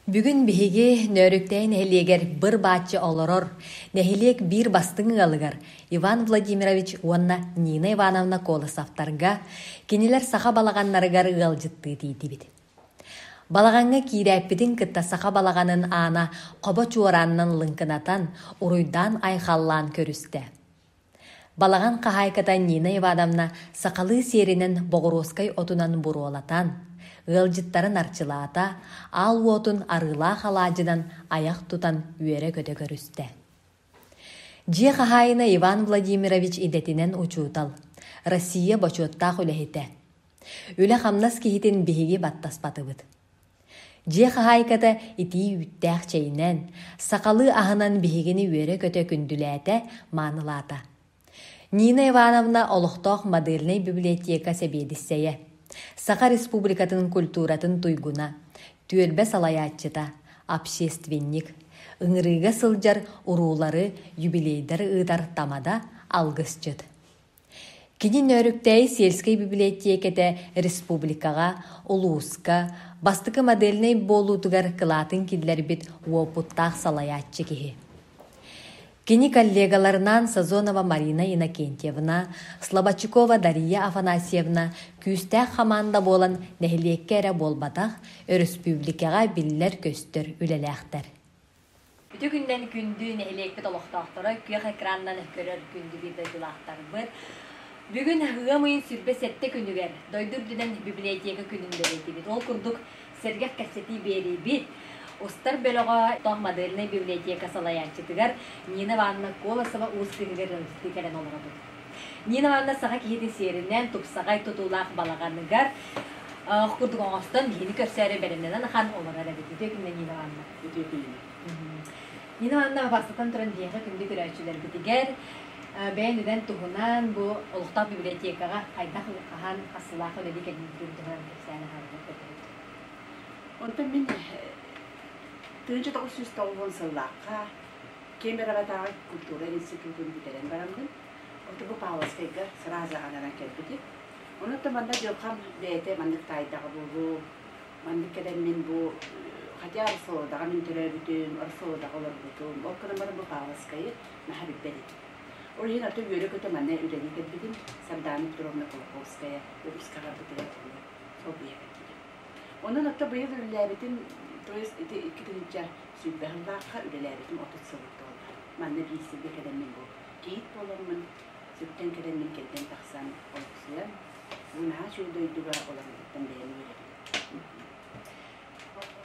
Бүгүн биһиги Нөөрүктэйи нэһилиэгэр быр-бааччы олорор нэһилиэк биир бастыҥ ыалыгар Иван Владимирович уонна Нина Ивановна Колосовтарга, кинилэр саха балаҕаннарыгар ыалдьыттыы тиийдибит. Балаҕаҥҥа киирээппитин кытта саха балаҕанын аана хобо чуораанынан лыҥкынатан, уруйдаан айхаллаан көрүстэ. Балаҕан хаһаайката Нина Ивановна сахалыы сиэринэн боҕуруоскай отунан буруолатан, ыалдьыттарын арчылаата, аал уотун арыылаах алаадьынан айах тутан үөрэ-көтө көрүстэ Дьиэ хаһаайына Иван Владимирович идэтинэн учуутал, Россия бочуоттаах үлэһитэ. Үлэ-хамнас киһитин биһиги баттаспатыбыт. Дьиэ хаһаайката итии үүттээх чэйинэн, сахалыы аһынан биһигини үөрэ-көтө күндүлээтэ, маанылаата. Нина Ивановна олохтоох модельнай библиотека сэбиэдиссэйэ, Саха Республикатын культуратын туйгуна, түөлбэ салайааччыта, общественник, ыҥырыыга сылдьар уруулары, юбилейдары ыытар тамада алгысчыт. Кини Нөөрүктээйи сельскэй библиотеката республикаҕа, улууска бастакы модельнай буолуутугар кылаатын киллэрбит уопуттаах салайааччы киһи. Кини коллегаларынаан Сазонова Марина Иннокентьевна, Слободчакова Дария Афанасьевна күүстээх хамаанда буолан нэһилиэккэ эрэ буолбатах, өрөспүүбүлүкэҕэ биллэр-көстөр үлэлээхтэр. Үтүө күннэн күндү нэһилиэкпит олохтоохторо күөх экранынан көрөр күндүлүүр дойдулаахтарбыт. Бүгүн ыам ыйын сүрбэ сэттэ күнүгэр дойду үрдүнэн библиотека күнүн бэлиэтиибит. Ол курдук, сэргэх кэпсэтии биэриибит. Устар бөлөҕө Тоҥ модельнай библиотека салайааччытыгар Нина Ивановна Колосова уус кыыһыгар ырылдьытыы кэлэн олоробут. Нина Ивановна саха киһитин сиэринэн тупсаҕай тутуулаах балаҕаныгар курдук оҥостон киһини көрсөөрү бэлэмнэнэн ахан олорор эбит. Үтүө күннэ Нина Ивановна. Үтүө күннэ. Нина Ивановна барсытан туран биһиэхэ күндү көрөөччүлэрбитигэр бэйэн үдэн туһунан бу олохтоох библиотекаҕа хайдах хаһаан асылаах үлэлии кэлбитин туһунан сааһаабыта көтөһүт. Онтон мин тыынча тоҕус сүүс тоҕуон сыллаахха Кемероватааҕы культура институтун бүтэрэн бараммын, отубу Павловскайга сразу анаран кэлбитим. Онуттан манна дьылхам бэйэтэ маннык таайдаҕа буолуу, маннык кэлэммин бу хотя Орсолодаҕа мин төрөөбүтүм, Орсолодаҕа олорбутум, ол гынан баран бу Павловскайы наһаа билбэт этим. Орден аты үөрэ-көтө маны үлэлии кэлбитим. Сардаана Петровна Кулаковская өрүскэ аҕалбытыгар буолан солбуйа кэлбитим. Онон ата быйыл үлэлээбитим, то есть ити икки тыһыынча сүүрбэ сыллаахха үлэлээбитим отут сыл буолла. Манна биир сиргэ кэлэммин бу кийит буоламмын, сүктэн кэлэммин кэлгэн тахсан олохсуйан, бу наһаа үчүгэй дойдуга олорорбуттан бэйэм үөрэбин.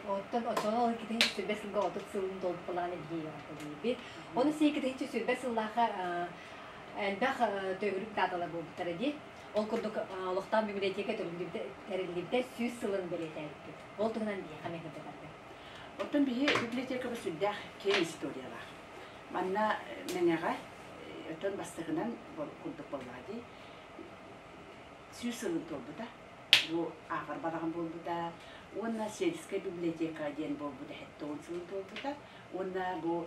Оттон оччоҕо ол иккитинчи сүрбэ сылга отут сылын долгупалаан илгиэйэҕитэ диэбит. Ону сиикитинчи сүрбэ сыллааха элбэх төгүрүк дааталар буолбуттара дии. Ол курдук олохтоох библиотека тэриллибитэ сүүс сылын бэлиэтээбиппит. Ол туһунан биһиэхэ миэхирдэтэргэ. Оттон биһи библиотекабыт сүрдээх киэҥ историялаах. Манна Мэҥэҕэ, оттон бастакынан курдук буоллаҕа дии, сүүс сылын туолбута. ааҕар баҕам буолбута уонна сельская библиотека диэн буолбут сэттэ сылын туолбута уонна бу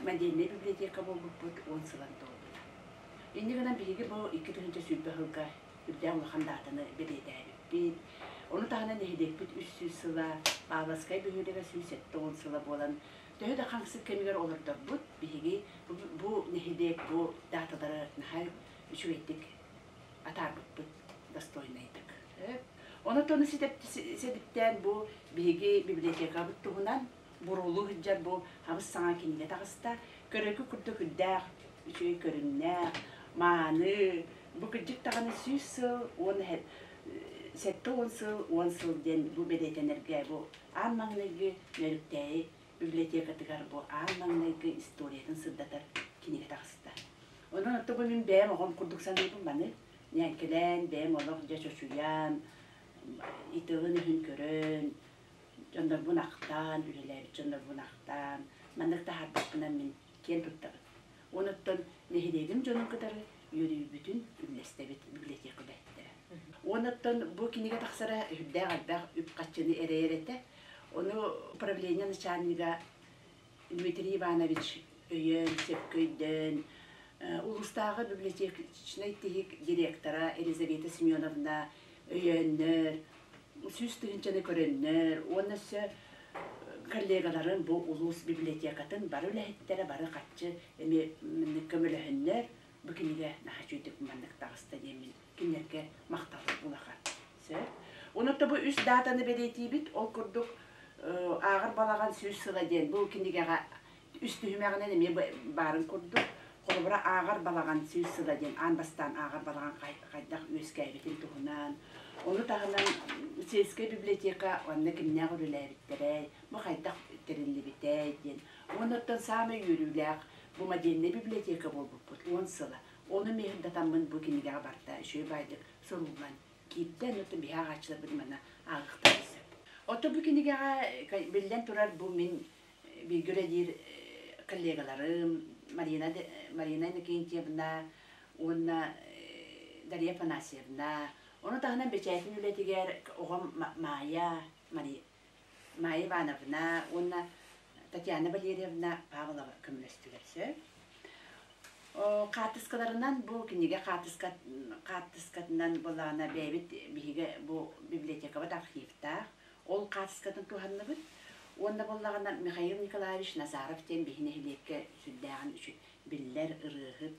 модельнай библиотека буолбуппут уон сылын туолбута инньэ гынан биһиги бу икки тыһыынча сүүрбэ сылга үрдээн улахан даатаны бэлиэтээбиппит ону таһынан нэһилиэкпит үс сүүс сыла Павловскай бөһүөлэгэ сүүс сэттэ уон сыла буолан төһө да хамсык кэмигэр олордорбут биһиги бу нэһилиэк бу дааталары наһаа үчүгэйдик атаарбыппыт достойнайдык. Онотону ситиптээн бу биһиги библиотекабыт туһунан буруулуу сылдьар бу хабыс саҥа кинигэ таҕыста. Көрөкү курдук үрдээх, үчүгэй көрүҥнээх, мааны, бу кырдьык даҕаны сүүс сыл уон сэттэ уон сыл уон сыл диэн бу бэлиэтэнэргэ бу аан маҥнайгы нөрүктээйи библиотекатыгар бу аан маҥнайгы историятын сырдатар кинигэ таҕыста. Онон оттук бу мин бэйэм оҕом курдук саныыбын маны ньээҥкэлээн, бэйэм олох дьэ чочуйан, итин-өһүн көрөн, дьоннорбун ахтаан, үлэлээбит дьоннорбун ахтаан, маннык таһаарбаппынан мин киэн туттабын. Оноттон нэһилиэгим дьонун кытары үөрүүбүтүн үллэстэбит билиэтиэкэлэһиттэрэ. Оноттон бу кинигэ тахсара үрдээх элбэх үп-харчыны эрэйэр этэ. Ону управление начальнига Дмитрий Иванович өйөөн, сөпкө өйдөөн, улуустааҕы библиотечнай тиһик директора Елизавета Семеновна өйөөннөр, сүүс тыһыынчаны көрөннөр уонна өссө коллегаларын бу улуус библиотекатын бары үлэһиттэрэ бары харчы эмиэ көмөлөһөннөр бу кинигэ наһаа үчүгүйдүк маннык таҕыста диэммин кинилэргэ махталбыт улахан сөп онуота бу үс даатаны бэлиэтиибит ол курдук ааҕар балаҕан сүүс сыла диэн бу кинигэҕэ үс түһүмэҕинэн эмиэ баарын курдук, холобура, ааҕар балаҕан сүүс сыла диэн аан бастаан ааҕар балаҕан хайдах үөскээбитин туһунан, ону таһынан сельскай библиотека уонна кимнээх үлэлээбиттэрэй, бу хайдах тэриллибитэй диэн. Уонна оттон саамай үөрүүлээх бу модельнай библиотека буолбуппут уон сыла. Ону миэһирдэтэммин бу кинигэҕэ барда үчүгэй баайдык суруллан киирдэ, но биһэ ааҕааччыларбыт манна ааҕыахтарын сөп. Отто бу кинигэҕэ, биллэн турар, бу мин бииргэ үлэлиир коллегаларым Марина, Марина Иннокентьевна уонна Дарья Афанасьевна. Ону таһынан бэчээтин үлэтигэр оҕом Маайа, Маайа Ивановна уонна Татьяна Валерьевна Павлова көмөлөстүлэр. Сөп. Хаартыскаларынан бу кинигэ хаартыскатынан былаана бэйэбит биһиги бу библиотекабыт архивтаах. Ол хаартыскатын туһанныбыт. Уонна буоллаҕына, Михаил Николаевич Назаров диэн биһи нэһилиэккэ сүрдээҕин үчү биллэр ырыаһыт,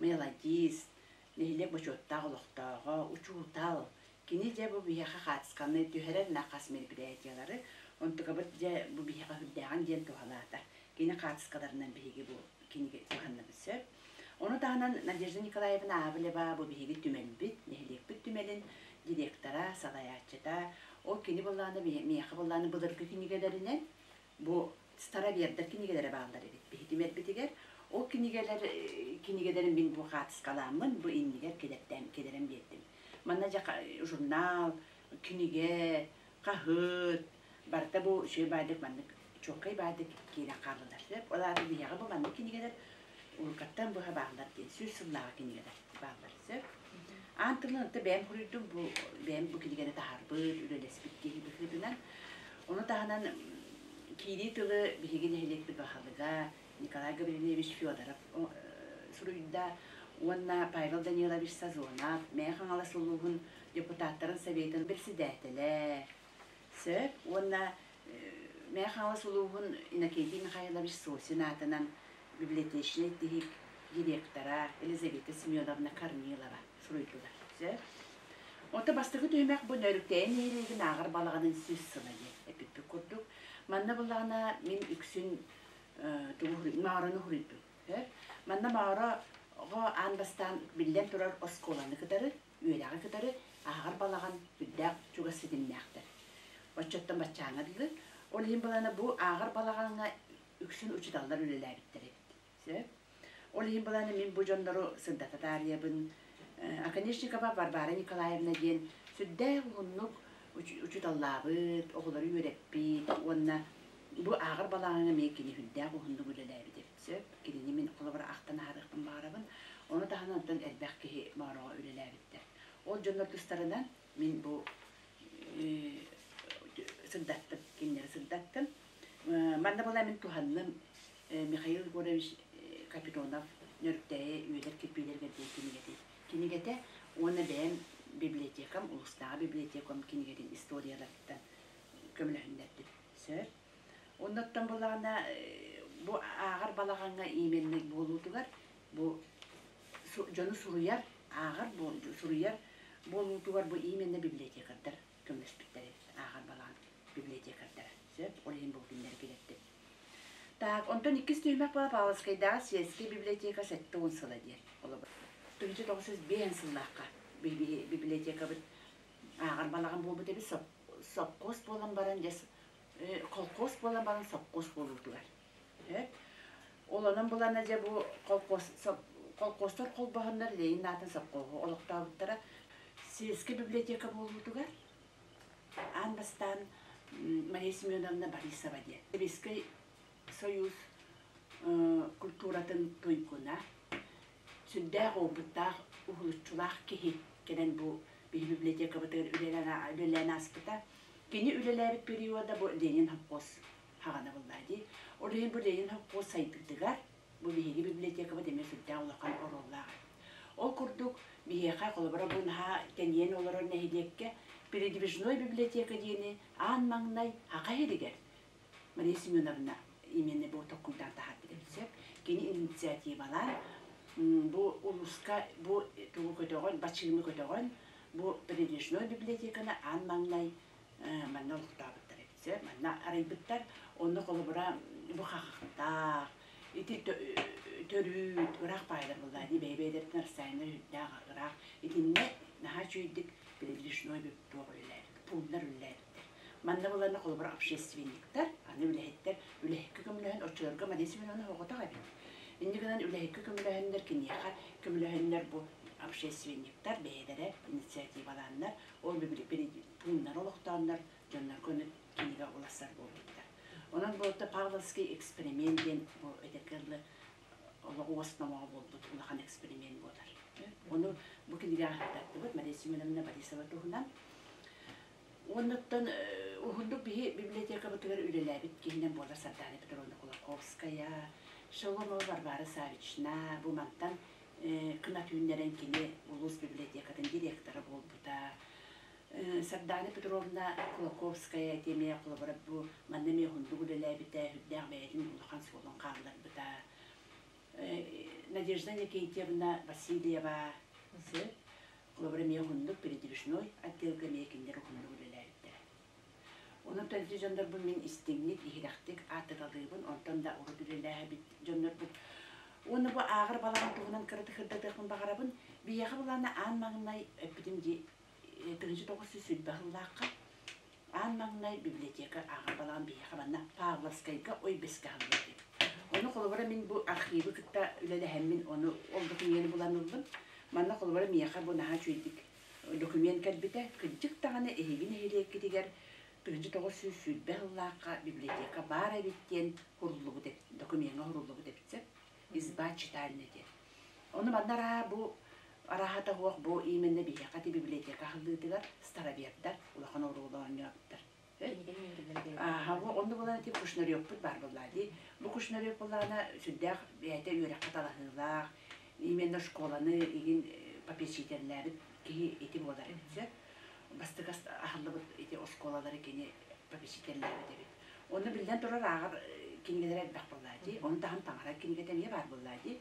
мелодист, нэһилиэк бочуоттаах олохтооҕо, учуутал, кини дьэ бу биһиэхэ хаартысканы түһэрэн хас мероприятиелары, онтукабыт дьэ бу биһиэхэ үрдээҕин диэн туһалаата. Кини хаартыскаларынан биһиги бу кинигэ куһанныбыт сөп. Ону таһынан Надежда Николаевна Аавлева бу биһиги түмэлбит, нэһилиэкпит түмэлин директора, салайааччыта, ол кини былааны, миэхэ былааны былыргы кинигэлэринэн бу старовердар кинигэлэрэ бааллар эбит биһи түмэлбитигэр. Ол кинигэлэр кинигэлэрин мин бу хаартыскаламмын бу иннигэр килэртэн килэрэн биэрдим. Манна дьэ журнал, кинигэ, хаһыат барыта бу сүрэ баайдык маннык чуолкай баайдык киирэн хааллылар сөп ол аата биһиэхэ бу маннык кинигэлэр уруккаттан быһа бааллар диэн сүр сыллааҕы кинигэлэр бааллар сөп аан тылынан ытта бэйэм хоруйдум бу бэйэм бу кинигэни таһарбыт үлэлэспит киһи быһыытынан ону таһынан киирии тылы биһиги нэһилиэкпит баһылыга Николай Гаврильевич Федоров суруйда уонна Павел Данилович Сазонов Мэйэ Хаҥалас улууһун депутаттарын Советын председателэ, сөп уонна Мэйэ Хаҥалас улууһун Иннокентий Михайлович Сосин аатынан библиотечнай тиһик директора Елизавета Семеновна Корнилова суруйдулар. Сөп. Ота бастакы түһүмэх бу нөрүктэйэ нэһилиэгин ааҕар балаҕанын сүүс сыла диэн эппиппит курдук. Манна буллаҕына мин үксүн маарыны хуруйдум. Манна мааро аан бастаан биллэн турар оскуоланы кытары, үөрэҕи кытары ааҕар балаҕан үрдээх чугас ситимнээхтэр. Оччоттон баччааҥҥа дылы. Ол иһин балана бу ааҕар балаҕаҥҥа үксүн учууталлар үлэлээбиттэр эбит. Сөп? Ол иһин буланы мин бу дьоннору сырдата таарыйабын. Оконешникова Варвара Николаевна диэн сүрдээх уһуннук учууталлаабыт, оҕолору үөрэппит уонна бу ааҕар балаҕаҥа эмиэ кини үрдээх уһуннук үлэлээбит эбит. Сөп, кинини мин холобура ахтан ааҕыахпын баҕарабын. Ону таһынан оттон элбэх киһи Моороҕо үлэлээбиттэр. Ол дьоннор тустарынан Мин бу сырдаттым, кинилэри сырдаттым. Манна была мин туһанным Михаил Егорович Капитонов Нөрүктээйи үөдэр кирпиилэргэр диэн кинигэтин кинигэтэ уонна бэйэм библиотекам улустааҕы библиотекам кинигэтин историяларыттан көмөлөһүннэрдим сөп оннуттан булаҕына бу ааҕар балаҕаҥҥа именник буолуутугар бу дьону суруйар, ааҕар суруйар буолуутугар бу именна библиотекардар көмөлөспүттэри ааҕар балаҕан библиотекардара сөп ол иһин бу кинилэри килэттим так онтон иккис түһүмэх бала павловскайдааҕы сельская библиотека сэттэ уон сыла диэн олобор тыһынча тоҕус биэһэн сыллаахха библиотекабыт ааҕар балаҕан буолбут эбит сопхуос буолан баран дьэ колхоз буолан баран сопхуос буолуутугар Олонон булана дьэ бу колхозтар холбоһоннор Ленин аатын сопхуоһу олохтообуттара. Сельский библиотека буолуутугар аан бастаан Мария Семеновна Борисова диэн Советский Союз культуратын туйгуна, сүрдээх уопуттаах, уһулуччулаах киһи кэлэн бу биһи библиотекабытыгар үлэлээн ааспыта. Кини үлэлээбит периода бу Ленин холкуос хаҕана буллаа дии. Ол иһин бу Ленин холкуос сайдыытыгар бу биһиги библиотекабыт эмиэ сүрдээх улахан оруоллаах Ол курдук, биһиэхэ холобура бу наһаа тэнийэн олорор нэһилиэккэ передвижной библиотека диэни аан маҥнай аҕа иһигэр Мария Семеновна именно бу токкуйдаан таһаарбыт эбит сөп. Кини инициативалаан бу улууска бу тугу көтөҕөн, бачыымы көтөҕөн, бу передвижной библиотеканы аан маҥнай манна олохтообуттар эбит манна арыйбыттар онно холобура бу хахахтаах ити төрүүт ыраах паайдар былаани бэйэ-бэйэлэритин расстояннар үрдээх ыраах итиннэ наһаа үчүгэйдик передвижной туох үлэлээбит пууннар үлэлээбиттэр манна былаанна холобура общественниктар аны үлэһиттэр үлэһиккэ көмөлөһөн оччолорго Мария Семеновна оҕотох эбит инньэ гынан үлэһиккэ көмөлөһөннөр киниэхэ көмөлөһөннөр бу общественниктар бэйэлэрэ инициативалааннар ол бүгүлүппүт муннар олохтооннор дьоннорго ону кинигэ уларсар буолбуттар. Онон буолта Павловский эксперимент диэн бу эдэрки ылы олох уос номоҕо буолбут улахан эксперимент буолар. Ону бу кинигэ ааттаттыбыт Мария Семеновна Борисова туһунан. Оннуттан уһундук биһи библиотекабытыгар үлэлээбит киһинэн буолар Сардана Петровна Кулаковская, Шоломова Варвара Савична, бу мантан кынат үүннэрэн кини улуус библиотекатын директора буолбута. Сардаана Петровна Кулаковская этиэмэйэ холобура бу манна эмиэ уһуннук үлэлээбитэ, үрдээх бэйэтин улахан суолун хаалларбыта. Надежда Никитьевна Васильева холобура эмиэ уһуннук передвижной отделга эмиэ кинилэр уһуннук үлэлээбиттэрэ. Онон төнтү дьоннорбун мин истиҥник, иһирэхтик ааттаталыыбын, онтон да урут үлэлээһэбит дьоннорбут уонна бу ааҕар балаҕан туһунан кыратык баҕарабын. Биһиэхэ былаана аан маҥнай эппитим дии, э, тыһыынча тоҕус сүүс сүүрбэ сыллаахха аан маҥнай библиотека ааҕар балаҕан биһиэхэ манна Павловскайга ой бэскэ аһыллыбыт эбит. Ону холобура мин бу архивы кытта үлэлэһэммин, ону ол документу булан ыллым. Манна холобура миэхэ бу наһаа үчүгэйдик документ кэлбитэ. Кырдьык даҕаны эһиги нэһилиэккитигэр тыһыынча тоҕус сүүс сүүрбэ сыллаахха библиотека баар эбит диэн уһуруллубут эбит, докумеҥҥа уһуруллубут эбит сөп. Изба читальня диэн. Ону манна арааһа бу арааһата суох бу именно биһиэхэ ити библиотека аһыллыытыгар старовердар улахан оруолу оонньообуттар. Аһаҕа онно булан ити кушнарёкпут баар буоллаа дии. Бу кушнарёк буоллаана сүрдээх бэйэтэ үөрэххэ талаһыылаах, именно школаны игин попечительлээбит киһи ити буолар эбит сөп. Бастыкас аһыллыбыт ити оскуолалары кини попечительлээбит эбит. Оны биллэн турар ааҕар кинигэлер элбэх буоллаа дии. Оны таһын таҥара кинигэтэ эмиэ баар буоллаа дии.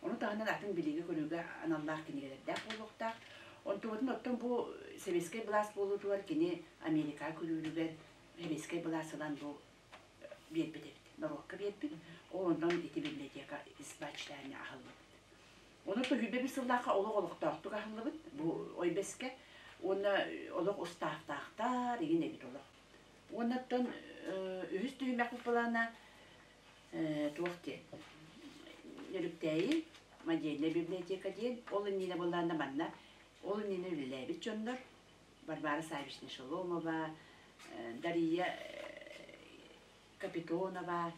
Ону таһынан атын билиигэ-көрүүгэ аналлаах кинигэлэрдээх буолуохтаах. Онтубутун оттон бу сэбиэскэй былаас буолуутугар кини Америкаҕа күлүүрүгэр сэбиэскэй былаас ылан бу биэрбит эбит. Норуокка биэрбит. Онон ити библиотека ис баччаанньа аһыллыбыт. Ону Туһуйбэбис сыллаахха олох олохтоохтук аһыллыбыт бу ойбэскэ. Уонна олох устаахтаахтар, игин эбит олох. Уоннаттан үһүс түһүмэх плана туох диэн Өрүктээйи модельная библиотека диэн ол иннинэ буоллаанда манна ол иннинэ үлэлээбит дьоннор Варвара Савична Шеломова, Дария Капитонова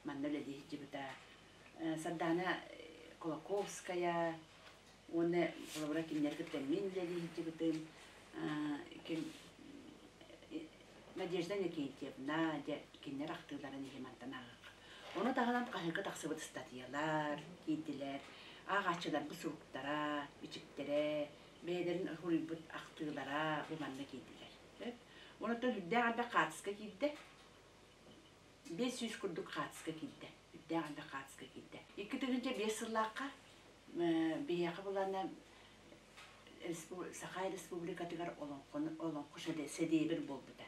манна үлэлии сылдьыбыта Сардаана Кулаковская Уонна холобура кинилэри кытта мин үлэлиһиттибитим ким Надежда Никитьевна дьэ кинилэр ахтыыларын иһи мантан ааҕыахха. Ону таһынан хаһыҥка тахсыбыт ыстатыйалар, тиитилэр, ааҕааччыларбыт суруктара, бичиктэрэ бэйэлэрин суруйбут ахтыылара бу манна киирдилэр. Сөп? Онуттан үрдээх ардах хаартыска киирдэ. Биэс сүүс курдук хаартыска киирдэ. үрдээх адвокатска киирдэ. Икки тыһыынча биэс сыллаахха биһиэхэ булана Саха Республикатыгар олоҥхо сэдиэбир буолбута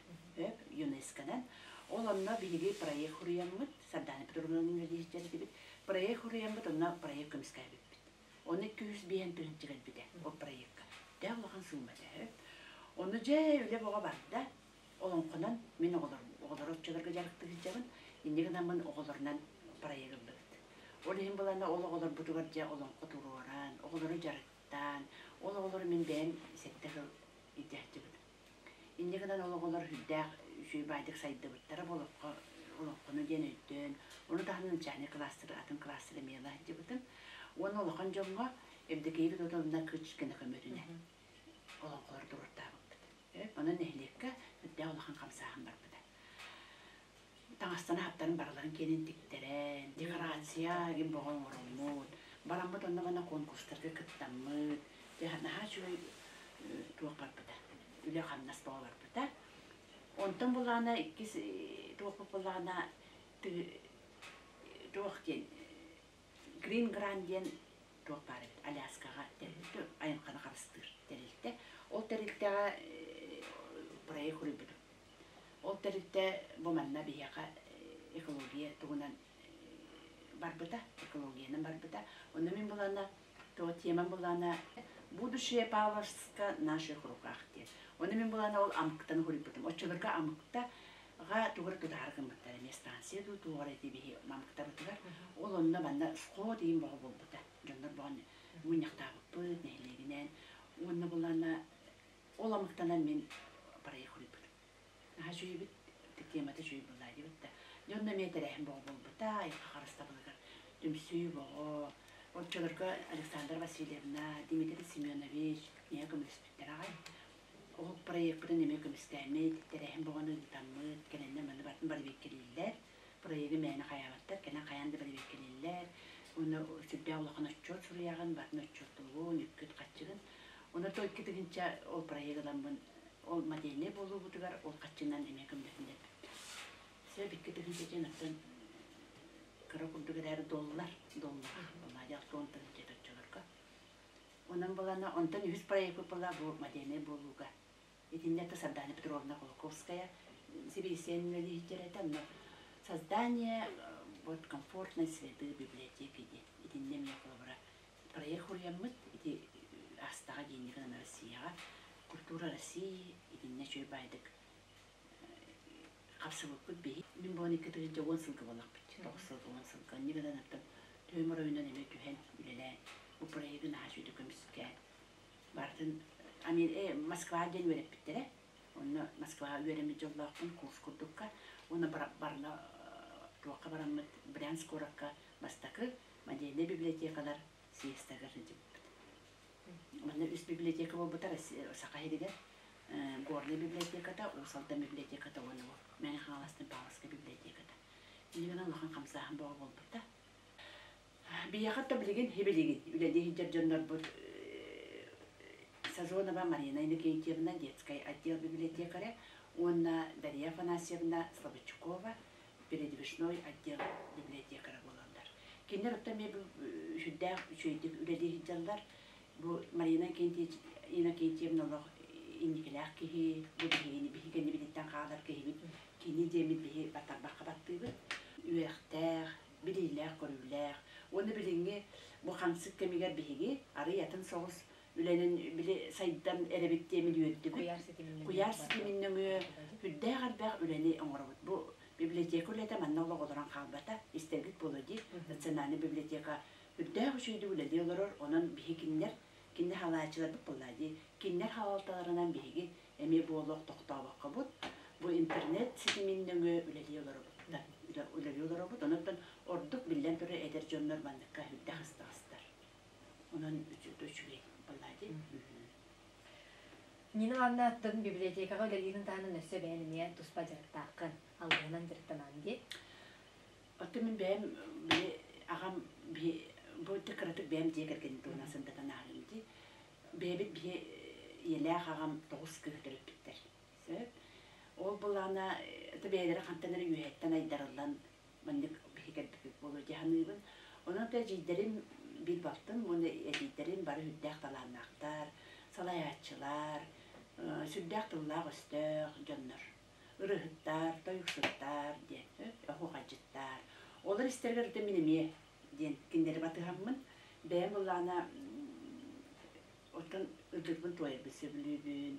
ЮНЕСКО-нан. Ол онно биһиги проект хуруйаммыт, Сардаана Петровна университет этибит. Проект хуруйаммыт, онно проект көмүскэ эбиппит. Ону икки үс биэһин тыһыынча кэлбитэ ол проекка. Төһө улахан суума төһө. Ону дьэ, үлэ бөҕө барда. олоҥхонон мин оҕолорум оҕолору оччолорго дьарыктыы сылдьабын инньэ гынаммын оҕолорунан проект ыллыбыт ол иһин былаана ол оҕолорбутугар дьэ олоҥхо туруоран оҕолору дьарыктаан ол оҕолору мин бэйэм сэттэ сыл илдьэһдибит инньэ гынан ол оҕолор үрдээх үчүгэй баайдык сайдыбыттара олоххо олоҥхону диэн өйдөөн ону таһынан начальнай кылаастары атын кылаастары эмиэ ыла сылдьыбытым уонна улахан дьоҥҥо Евдокия Евдотовна Кычкина көмөтүнэн олоҥхолору туруортаабыппыт Онон нэһилиэккэ үрдээх улахан хамсааһын барбыта. Таҥастарын-аһаттарын барыларын киэнин тиктэрэн, декорация, им бөҕө оҥоруммут. Бараммыт онно-манна конкурстарга кыттаммыт. Наһаа үчүгэй туох барбыта. Үлэ-хамнас бөҕө барбыта. Онтон былаана иккис туохпут былаана туох диэн Грин Гран диэн туох баар эбит Аляскаҕа тэрилтэ айылҕаны харыстыыр тэрилтэ. Ол тэрилтэҕэ проект суруйбутум. Ол тэрилтэ бу манна биһиэхэ экология туһунан барбыта, экологиянан барбыта. Онно мин булана, то темам булана «Будущее Павловска в наших руках» диэн. Ону мин булана ол амкытаны хоруйбутум. Оччолорго амкта Ага тугар гытаһар гыммыттар эмиэ станция дуу туоҕар эти биһи мамыктабытыгар ол онно манна школа дейин бого буолбута дьоннор бұған мунньахтаабыппыт нэһилиэгинээн уонна буланна ол амыктанан мин проехуйбут аха чүйбүт темата чүй была дебетта дьонно эмиэ тэрээһин бого буолбута айха харыстабылыгар түмсүү бого оччолорго Александра Васильевна Дмитрий Семенович ийэ көмөлөспүттэр аҕай Олох проекпытын эмиэ көмүскээммит, тэрээһин бөҕөнү ыытаммыт, кэлэннэ манна барбиккэлииллэр. Проегы мээнэ хайаабаттар, кэлэн хайаан да барбиккэлииллэр. Уонна сүрдээх улахан отчуот суруйаҕын, батын отчуоттуубун, үккүт хаччыгын. Онно икки тыһыынча ол проег ыламмын, ол модельнай буолуубутугар ол хаччынан эмиэ көмдөтүн эппиппэр. Сөп икки тыһыынча диэн оттон кыра курдук эрээри доллар, доллара, Мадьал туон тыһыынча оччолорго. Онон буолана, онтон үһүс проект выпала бу модельнай буолууга. Итиннэ ты Сардана Петровна Кулаковская сибирисен үлэлиһиттэрэтэ, но создание вот комфортной среды библиотеки диэн. Итиннэ мия колобора проект уриаммыт ити астаҕа диэни Россияҕа культура России итиннэ чөй байдык Хапсыбыппыт биһи мин бу икки тыһыынча уон сылга буоллахпыт тоҕус сыл уон сылга инньэ гынан аттым түөм оройунан эмиэ түһэн үлэлээн бу проектын наһаа үчүгэй көмүскээн барытын амин э Москва диэн үөрэппиттэрэ онно Москваҕа үөрэммит дьоллоохпун курс курдукка уонна барла туохха бараммыт Брянск куоракка бастакы модельнай библиотекалар съездагар сылдьыбыппыт Манна үспиблиотека буолбута Саха сиригэр Горнай библиотеката, Уус Алдан библиотеката уонна ол Мэҥэ Хаҥаластан Павловскай библиотеката. Билигин улахан хамсааһын бөҕө буолбута. Биһиэхэ да билигин билигин үлэлии сылдьар дьоннорбут Сазонова Марина Иннокентьевна, детскай отдел библиотекаря, уонна Дария Афанасьевна Слободчукова, передвижной отдела библиотекара буолаллар. Кинилэр оттон эмиэ бу сүрдээх үчүгэйдик үлэлии сылдьаллар. Бу Марина Иннокентьевна олох инникилээх киһи, бу биһигини биһиги кэннибититтэн хаалар киһибит, кини диэммит биһи баттарбакка баттыыбыт. Үөрэхтээх, билиилээх-көрүүлээх уонна билиҥҥи бу хамсык кэмигэр биһиги арыый атын соҕус үлэнин били сайдан эрэбит диэмин үөрдүм. Куйаар ситимин нөҥүө үрдээх элбэх үлэни оҥоробут. Бу библиотека үлэтэ манна олох олорон хаалбата, истэргит буолуо диир Национальнай библиотека үрдээх үчүгэйдик үлэлии олорор, онон биһи кинилэр кинини хаалааччыларбыт буоллаа дии. Кинилэр хаалталарынан биһиги эмиэ буолуох тохтообоккобут. Бу интернет ситимин нөҥүө үлэлии олоробут. Үлэлии олоробут, онон ордук биллэн турар эдэр дьоннор манныкка үрдэх астаҕастар. Онон үчүгэй үчүгэй балади. Нина Анна аттын библиотекаҕа үлэлиирин таһынан өссө бэйэн эмиэ туспа дьарыктааххын, алгыһынан дьарыктанан дии. Оттон мин бэйэм били аҕам бии бу кыратык бэйэм дьиэ кэргэнин туһунан сындатан ааҕыым дии. Бэйэбит биһи ийэлээх аҕам тоҕус кыыс төрөппүттэр. Сөп. Ол былаана бэйэлэрэ хантан эрэ үөһэттэн айдарыллан маннык киһи кэлбит буолуо дьаһаныыбын. Ону да эдьиийдэрим биир балтым уонна эдьиийдэрим бары үрдээх талааннаахтар, салайааччылар, сүрдээх тыллаах-өстөөх дьоннор. Ырыаһыттар, тойуксуттар диэн, оһуохайдьыттар. Олор истэригэр ити мин эмиэ диэн кинилэри батыһаммын, бэйэм ыллаана оттон ытырбын туойарбын сөбүлүүбүн.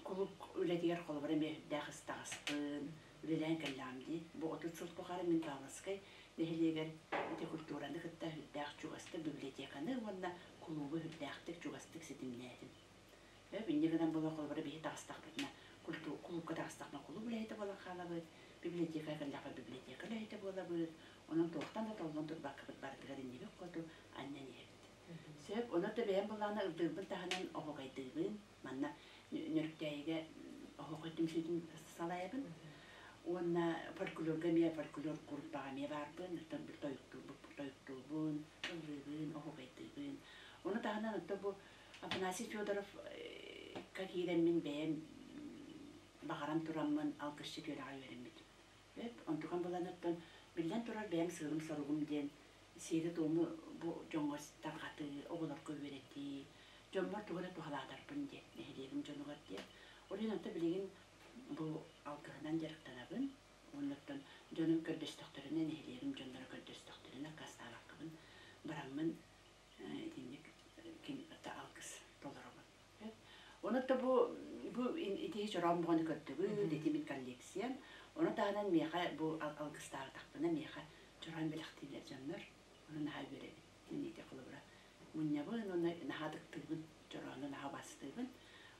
Кулууп үлэтигэр холобура эмиэ үрдээх ыстаҕаспын, үлэлээн кэллэҕим дии. Бу отут сыл тухары мин Каласкай нэһилиэгэр мотокультураны кытта үрдээх чугастар библиотеканы уонна кулуубу үрдээхтик чугастык ситимнээтим. Өө инньэ гынан буолуох холобура биһи таҕыстахпытына кулуубка таҕыстахпына кулууп үлэһитэ буолан хаалабыт, библиотекаҕа кэллэхпэ библиотека үлэһитэ буолабыт, онон туохтан да толлон турбаккабыт барытыгар иннибит хоту анньан иһэбит. Сөп, онон да бэйэм былаана үрдүрбүн таһынан оһуогайдыыбын, манна Нөрүктээйигэ оһохой түмсүүтүн салайабын уонна фольклорга эмиэ фольклор куруппаҕа эмиэ баарбын оттон тойуктуурбун ыллыыбын оһугайдыыбын ону таһынан оттон бу Афанасий Федоров ка киирэммин бэйэм баҕаран тураммын алгысча түөрэҕи үөрэммитим онтукам булан оттон биллэн турар бэйэм сыырым соругум диэн сиэри-туому бу дьоҥҥор тарҕатыы, оҕолорго үөрэтии, дьоммор тугу эрэ туһалаатарбын диэн нэһилиэгим дьонугар диэн. Ол иһин онто билигин бу алгыһынан дьарыктанабын. Оннуттан дьонум көрдөстөхтөрүнэ, нэһилиэгим дьонноро көрдөстөхтөрүнэ аккаастаабаккабын бараммын итинник ким алгыс толоробун. Онот да бу бу ити чороон буҕаны көрдөгүн, дэтимин коллекция. Оны таһынан миэхэ бу алгыстаабатахпына миэхэ чороон бэлэхтиилэр дьоннор. Оны наһаа үөрэбин. Кинигэ холобура мунньабын уонна наһаа тыктыыбын, чороону наһаа бастыыбын.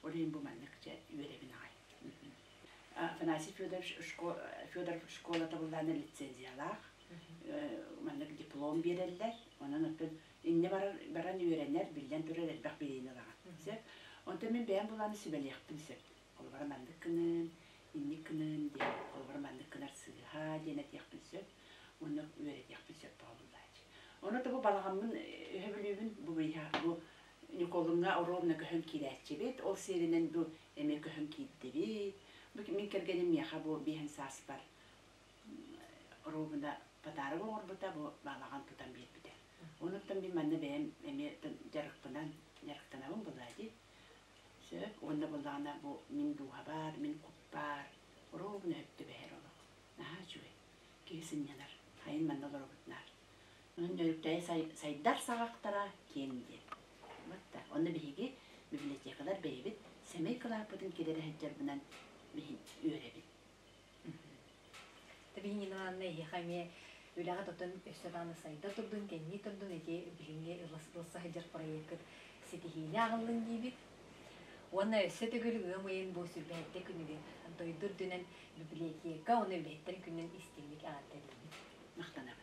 Олейын бу маннык дьэ үөрэбин аҕай. Афанасий Федорович Федоров школа табыллаана лицензиялаах. Маннык диплом биэрэллэр. Онон оттон иннэ баран үөрэнэр, биллэн турар элбэх билиини ылаҕын. Сөп. Онтон мин бэйэм булааны сүбэлиэхпин сөп. Холобура маннык гыныын, инник гыныын диэн. Холобура маннык гынар сыыһа диэн этиэхпин сөп. Онно үөрэтиэхпин сөп тоҕобуллааччы. Ону тобу балаҕаммын өһө бүлүүбүн бу быйыһа бу Ньукуолуҥҥа оруобуна көһөн киирээччибит. Ол сиэринэн бу эмиэ көһөн киирдибит. Мин кэргэним миэхэ бу биэһин сааспар рубина пытарык оҥорбута бу баалаҕан тутан биэрбитэ онуттан мин манна бэйэм эмиэ дьарыкпынан дьарыктанабын былаати сөп уонна буоллаҕына бу мин дууһа баар мин кут баар рубина өттүбэһэр олох наһаа үчүгэй киһи сынньанар хайын манна олоробут наар онон дьөрүктэйи сайдар саҕахтара киэҥ диэн вот да онно биһиги библиотекалар бэйэбит сэмэй кылааппытын килэрэ сылдьарбынан үөрэбит Табиин Ивановна эһиэхэ эмиэ үлэҕэ тутан өссө даҕаны сайда турдун, кэннии турдун ити билиҥҥи ылыс ылса сылдьар проеккыт ситиһиини аҕаллын диибит. Уонна өссө төгүл ыам ыйын бу сүрбэһэрдэ күнүгүн дойду үрдүнэн библиотека уонна үлэһиттэр күнүн истиҥник эҕэрдэ диибит. Махтанабын.